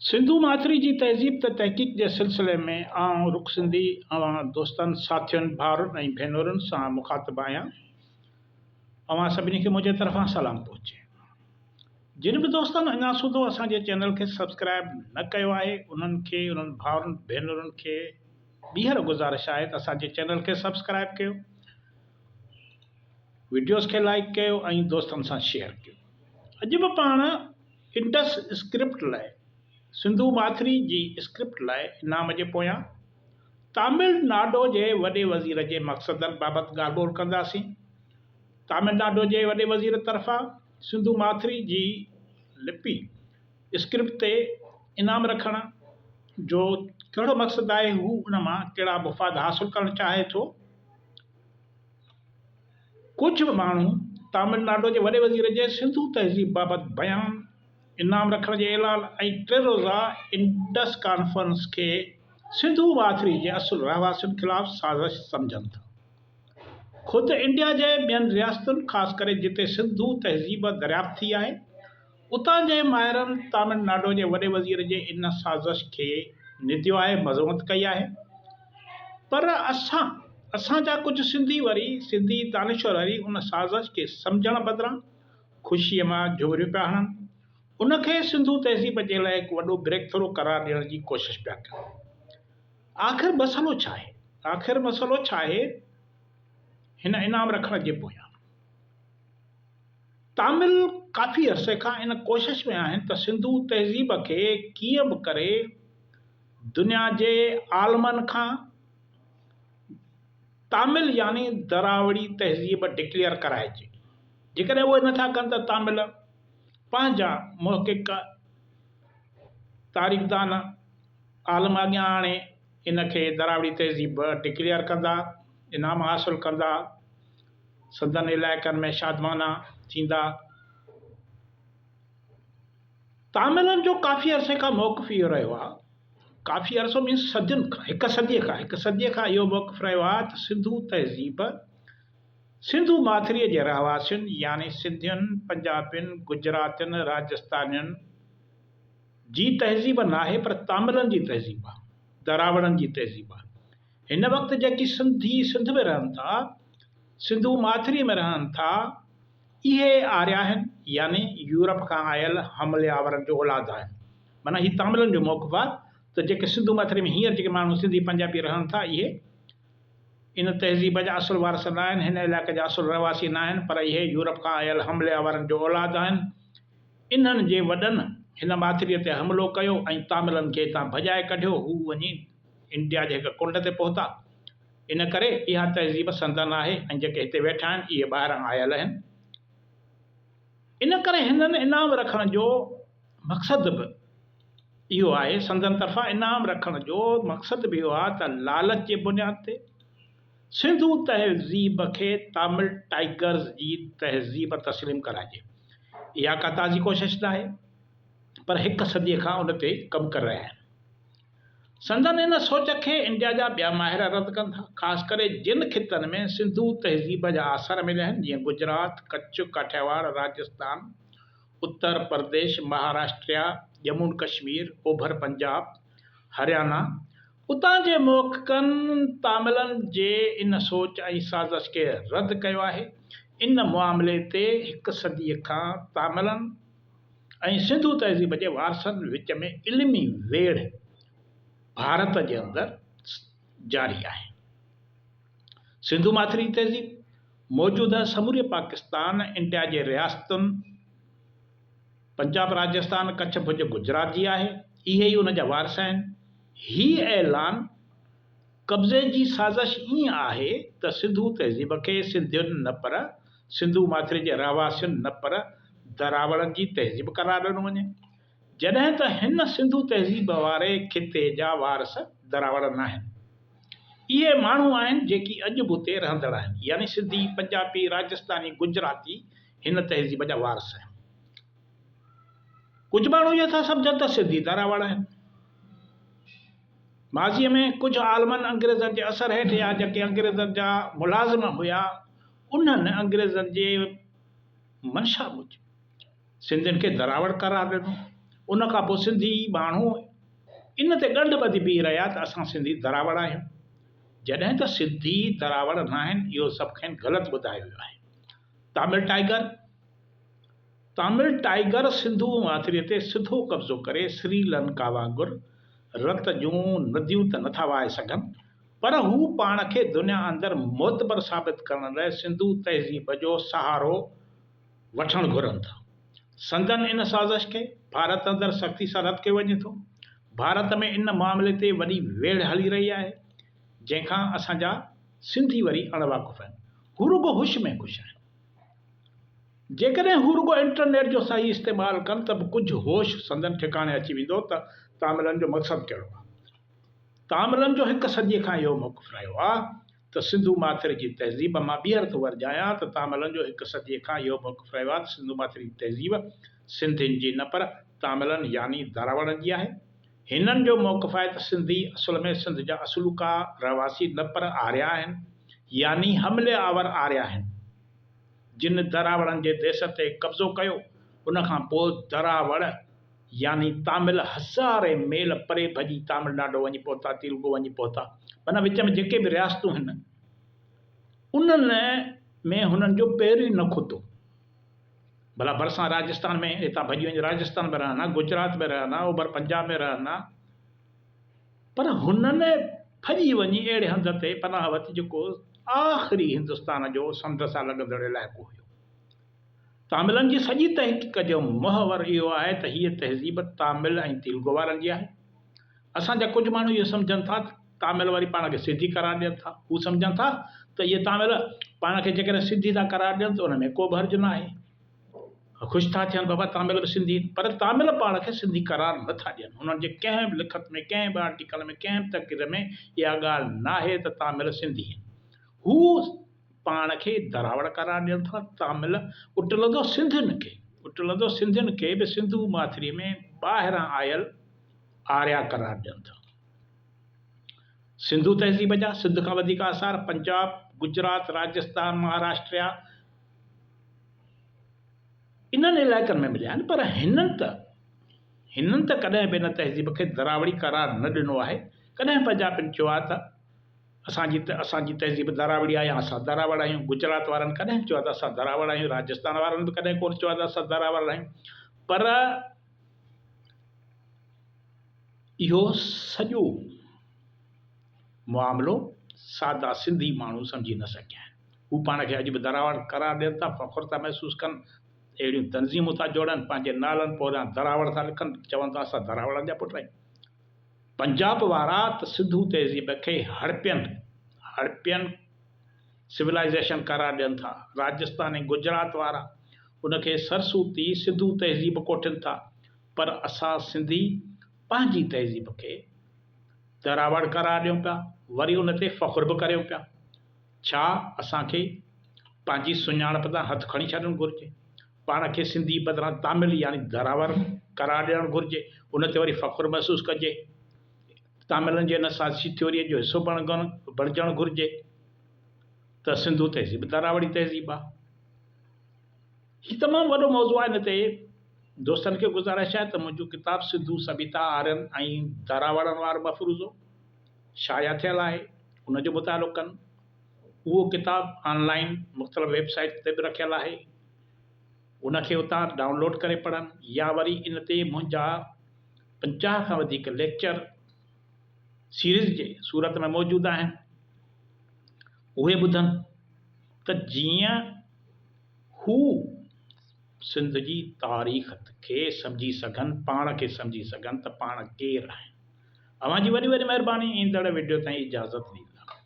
سنڌو ماٿري جي تهذيب تي تحقيق جي سلسلي ۾ آئون رخ سنڌي اوهان دوستن، ساٿين، ڀائرن ۽ ڀينرن سان مخاطب آهيان. اوهان سڀني کي منهنجي طرفان سلام پهچي. جن به دوستن اڃا سوڌو اسان جي چينل کي سبسڪرائيب نه ڪيو آهي انهن کي انهن ڀائرن ڀينرن کي ٻيهر گذارش آهي ته اسان جي چينل کي سبسڪرائيب ڪيو. وڊيوز کي لائيڪ ڪيو ۽ دوستن سان شيئر ڪيو اڄ به پاڻ انڊس اسڪرپٽ لاء سنڌو ماٿري جي اسڪرپٽ لاء انعام جي پويان تامل ناڊو جي وڏي وزير جي مقصدن بابت ڳالهه ٻولهه ڪنداسين تامل ناڊو جي وڏي وزير طرفان سنڌو ماٿري جي لپي اسڪرپٽ تي انعام رکڻ جو ڪهڙو مقصد آهي هو ان مان ڪهڙا مفاد حاصل ڪرڻ چاهي ٿو ڪجهه ماڻهو تامل ناڊو جي وڏي وزير جي سنڌو تهذيب بابت بيان، انعام رکڻ جي اعلان ۽ ٽي روزه انڊس ڪانفرنس کي سنڌو ماٿري جي اصل رهواسين خلاف سازش سمجهن ٿا. خود انڊيا جي ٻين رياستن خاص ڪري جتي سنڌو تهذيب دريافت ٿي آهي، اتان جي ماهرن تامل ناڊو جي وڏي وزير جي ان سازش کي نديو آهي، مذمت ڪئي آهي پر اسان اسان جا ڪجهه سنڌي وري سنڌي دانشور وري ان سازش کي سمجهڻ بدران خوشيء مان جهوريون پيا هڻن، ان کي سنڌو تهذيب جي لاء هڪ وڏو بريڪ ٿرو قرار ڏيڻ جي ڪوشش پيا ڪن. آخر مسئلو ڇا آهي؟ آخر مسئلو ڇا آهي هن انعام رکڻ جي پويان؟ تامل ڪافي عرصي کان ان ڪوشش ۾ آهن ته سنڌو تهذيب کي ڪيئن به ڪري دنيا جي عالمن کان تامل يعني دراوڙي تهذيب ڊڪليئر ڪرائجي. جيڪڏهن اهو نه ٿا ڪن ته تامل پنهنجا محقق تاريخدان عالم اڳيان آڻي ان کي دراوڙي تهذيب ڊڪليئر ڪندا، انعام حاصل ڪندا. سندن علائقن ۾ شادمانا ٿيندا. تاملن جو ڪافي عرصي کان موقف اهو رهيو آهي، ڪافي عرصو مينس صدين کان، هڪ صديء کان، هڪ صديء کان اهو موقف رهيو آهي ته سنڌو تهذيب سنڌو ماٿريء جي رهواسين يعني سنڌين، پنجابين، گجراتين، راجستانين جي تهذيب ناهي پر تاملن جي تهذيب آهي، دراوڙن جي تهذيب آهي. هن وقت جيڪي سنڌي سنڌ ۾ رهن ٿا، سنڌو ماٿريء ۾ رهن ٿا، اهي آريا آهن، يعني يورپ کان آيل حملي آورن جو اولاد آهن. معنيٰ هي تاملن جو موقف آهي ته جيڪي سنڌو ماٿريء ۾ هينئر جيڪي ماڻهو سنڌي پنجابي رهن ٿا، اهي ان تهذيب جا اصل وارث نه آهن، هن علائقي جا اصل رهواسي نه آهن، پر اهي يورپ کان آيل حملي آورن جو اولاد آهن. انهن جي وڏن هن ماٿريء تي حملو ڪيو ۽ تاملن کي هتان ڀڄائي ڪڍيو، هو وڃي. انڊيا جي هڪ ڪنڊ تي پهتا. ان ڪري اها تهذيب سندن آهي ۽ جيڪي هتي ويٺا آهن، اهي ٻاهران آيل آهن. ان ڪري هنن انعام رکڻ جو مقصد به اهو آهي. سندن طرفان انعام رکڻ جو مقصد به اهو آهي ته لالچ جي بنياد تي سنڌو تهذيب کي تامل ٽائيگرز جي تهذيب تسليم ڪرائجي. اها ڪا تازي ڪوشش ناهي، پر هڪ صديء کان ان تي ڪم ڪري رهيا آهن. سندن ان سوچ کي انڊيا جا ٻيا ماهر رد ڪن ٿا، خاص ڪري جن خطن ۾ سنڌو تهذيب جا آثار مليا آهن، جيئن گجرات، ڪڇ، ڪاٺياواڙ، راجستان، اتر پرديش، مهاراشٽريا، ڄمون ڪشمير، اوڀر پنجاب، هريانا. اتان جي محققن تاملن جي ان سوچ ۽ سازش کي رد ڪيو آهي. ان معاملي تي هڪ صديء کان تاملن، ۽ سنڌو تهذيب جي وارثن وچ ۾ علمي ويڙهه ڀارت جي اندر جاري آهي. سنڌو ماٿري جي تهذيب موجوده سموري پاڪستان، انڊيا جي رياستن پنجاب، راجستان، ڪڇ، ڀڄ، گجرات جي آهي. اهي ئي ان جا وارث آهن. هي اعلان قبضي جي سازش ائين آهي ته سنڌو تهذيب کي سنڌين نه پر سنڌو ماٿري جي رهواسين نه پر دراوڙن جي تهذيب قرار ڏنو وڃي، جڏهن ته هن سنڌو تهذيب واري خطي جا وارث دراوڙ ناهن. اهي ماڻهو آهن جيڪي اڄ به اتي رهندڙ آهن، يعني سنڌي، پنجابي، راجستاني، گجراتي هن تهذيب جا وارث آهن. ڪجهه ماڻهو اهو ٿا سمجهن ته سنڌي دراوڙ آهن. ماضيء ۾ ڪجهه عالمن انگريزن جي اثر هيٺ يا جيڪي انگريزن جا ملازم هيا، انهن انگريزن جي منشا موجب سنڌين کي دراوڙ قرار ڏنو. ان کان پوء سنڌي ٻانهو ان تي ڳنڍ ٻڌي بيهي رهيا ته اسان سنڌي دراوڙ آهيون، جڏهن ته سنڌي دراوڙ ناهن، اهو سڀ کين غلط ٻڌايو ويو آهي. Tamil tiger, Tamil Tiger، Sindhu ماٿريء تي سڌو قبضو ڪري سري لنڪا وانگر رت جون نديون ته نٿا وهائي سگهن، پر هو پاڻ کي دنيا اندر معتبر ثابت ڪرڻ لاء سنڌو تهذيب جو سهارو وٺڻ گهرن ٿا. سندن ان سازش کي ڀارت اندر سختي سان رد ڪيو وڃي ٿو. ڀارت ۾ ان معاملي تي وڏي ويڙهه هلي رهي آهي، جنهن کان اسان جا سنڌي وري اڻ واقف آهن. هو رڳو هوش ۾ خوش آهن. جيڪڏهن هو رڳو انٽرنيٽ جو صحيح استعمال ڪن ته به ڪجهه هوش سندن ٺڪاڻي اچي ويندو ته تاملن جو مقصد ڪهڙو آهي. ڪامرن جو هڪ صديء کان اهو موقف رهيو آ ته سنڌو ماٿر جي تهذيب مان ٻيهر ٿو ورجايان ته تاملن جو هڪ صديء کان اهو موقف رهيو آ ته سنڌو ماٿر جي تهذيب سنڌين جي نه پر تاملن يعني دراوڙن جي آهي. هنن جو موقف آهي ته سنڌي اصل ۾ سنڌ جا اصلوڪا رهواسي نه پر آريا آهن يعني حملي آور آريا آهن جن دراوڙن جي ديس تي قبضو ڪيو ان کان پوء دراوڙ يعني تامل هزارين ميل پري ڀڄي تامل ناڊو وڃي پهتا، تيلگو وڃي پهتا، معنيٰ وچ ۾ جيڪي به رياستون هن، انهن ۾ هنن جو پير ئي نه کتو. ڀلا ڀرسان راجستان ۾ هتان ڀڄي وڃي راجستان ۾ رهن ها، گجرات ۾ رهن ها، اوڀر پنجاب ۾ رهن ها، پر هنن ڀڄي وڃي اهڙي هنڌ تي پناهه ورتي جيڪو آخري هندستان جو سنڌ سان لڳندڙ علائقو هيو. تاملن جي سڄي تحقيق جو محور اهو آهي ته هيء تهذيب تامل ۽ تيلگو وارن جي آهي. اسان جا ڪجهه ماڻهو اهو سمجهن ٿا ته تامل واري پاڻ کي سنڌي قرار ڏين ٿا. هو سمجهن ٿا ته اهي تامل پاڻ کي جيڪڏهن سنڌي ٿا قرار ڏين ته ان ۾ ڪو به حرج ناهي. خوش ٿا ٿين بابا تامل به سنڌي آهن. پر تامل پاڻ کي سنڌي قرار نه ٿا ڏين. انهن جي ڪنهن به لکت ۾ ڪنهن به آرٽيڪل ۾ ڪنهن به تقرير ۾ اها ڳالهه ناهي ته تامل سنڌي آهن. هو پاڻ کي دراوڙ قرار ڏين ٿا، تامل اٽلندو سنڌين کي، اٽلندو سنڌين کي به سنڌو ماٿري ۾ ٻاهران آيل آريا قرار ڏين ٿا. سنڌو تهذيب جا سنڌ کان وڌيڪ آثار پنجاب، گجرات، راجستان، مهاراشٽريا انهن علائقن ۾ مليا آهن پر هنن ته هنن ته ڪڏهن به ان تهذيب کي دراوڙي قرار نه ڏنو آهي، ڪڏهن پنجابين چيو آهي ته. اسان جي ته اسان جي تهذيب دراوڙي آهي يا اسان دراوڙ آهيون. گجرات وارن ڪڏهن به چيو آهي ته اسان دراوڙ آهيون. راجستان وارن به ڪڏهن ڪونه چيو آهي ته اسان دراوڙ آهيون. پر اهو سڄو معاملو سادا سنڌي ماڻهو سمجهي نه سگهيا آهن. هو پاڻ کي اڄ به دراوڙ قرار ڏين ٿا، فخر ٿا محسوس ڪن، اهڙيون تنظيمون ٿا جوڙن، پنهنجي نالن پوريان دراوڙ ٿا لکن، چون ٿا اسان دراوڙن جا پٽ آهيون. پنجاب وارا ته سنڌو تهذيب کي هڙپين، Harpian، Civilization، قرار ڏين ٿا، راجستان ۽ گجرات وارا ان کي سرسوتي، سنڌو تهذيب، ڪوٺين ٿا، پر اسان سنڌي پنهنجي تهذيب کي دراوڙ قرار ڏيون پيا، وري ان تي فخر به ڪريون پيا. ڇا اسان کي پنهنجي سڃاڻپ تان هٿ کڻي ڇڏڻ گهرجي؟ پاڻ کي سنڌي بدران تامل يعني ڌراور قرار ڏيڻ گهرجي، ان تي وري فخر محسوس ڪجي. تاملن جي ان سازشي ٿيوريء جو حصو بڻجڻ گهرجي ته سنڌو تهذيب ڌراوڙي تهذيب آ. هي تمام وڏو موضوع آ، ان تي دوستن کي گذارش آهي ته منهنجو ڪتاب سنڌو سڀيتا، آرين ۽ ڌراوڙن وارو مفروضو شايع ٿيل آهي، ان جو مطالعو ڪن. اهو ڪتاب آن لائين مختلف ويب سائيٽس تي به رکيل آهي ان کي اتان ڊائونلوڊ ڪري پڙهن يا وري ان تي منهنجا پنجاهه کان وڌيڪ ليڪچر سيريز جي صورت ۾ موجود آهن اهي ٻڌن ته جيئن هو سنڌ جي تاريخ کي سمجهي سگهن پاڻ کي سمجهي سگهن ته پاڻ ڪير آهن اوهان جي وڏي وڏي مهرباني ايندڙ وڊيو تائين اجازت ڏيندا